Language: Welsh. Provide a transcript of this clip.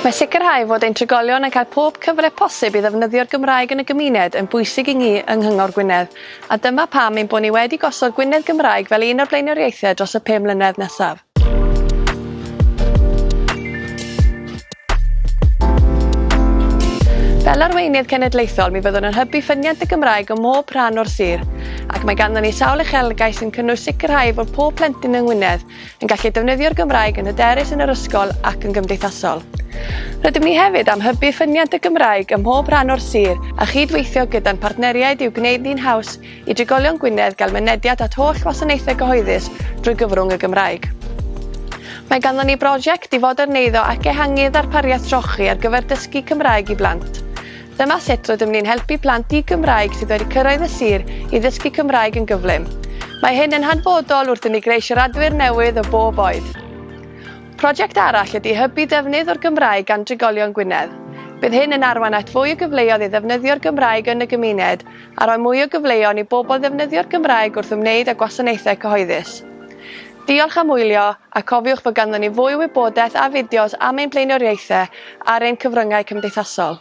Mae sicrhau fod ein trigolion yn cael pob cyfle posib i ddefnyddio'r Gymraeg yn y gymuned yn bwysig i ni yng Nghyngor Gwynedd, a dyma pam ein bod ni wedi gosod Gwynedd Gymraeg fel un o'r blaenoriaethau dros y pum mlynedd nesaf. Fel arweinydd cenedlaethol, mi fyddwn yn hybu ffyniant y Gymraeg ym mhob rhan o'r sir, ac mae ganddyn ni sawl uchelgau sy'n cynnwys sicrhau fod pob plentyn yng Ngwynedd yn gallu defnyddio'r Gymraeg yn hyderus yn yr ysgol ac yn gymdeithasol. Rydym ni hefyd am hybu ffyniant y Gymraeg ym mhob rhan o'r sir a chyd-weithio gyda'n partneriaid i'w gwneud ni'n haws i drigolion Gwynedd gael mynediad at holl wasanaethau cyhoeddus drwy gyfrwng y Gymraeg. Mae ganddo ni brosiect i foderneiddio ac ehangu ddarpariaeth trochi ar gyfer dysgu Cymraeg i blant. Dyma sut rydym ni'n helpu plant di-Gymraeg sydd wedi cyrraedd y sir i ddysgu Cymraeg yn gyflym. Mae hyn yn hanfodol wrth i ni greu siaradwyr newydd o bob oed. Prosiect arall ydy hybu defnydd o'r Gymraeg gan drigolion Gwynedd. Bydd hyn yn arwain at fwy o gyfleoedd i ddefnyddio'r Gymraeg yn y gymuned a rhoi mwy o gyfleon i bobl ddefnyddio'r Gymraeg wrth ymwneud â gwasanaethau cyhoeddus. Diolch am wylio, a cofiwch fod ganddon ni fwy o wybodaeth a fideos am ein blaenoriaethau ar ein cyfryngau cymdeithasol.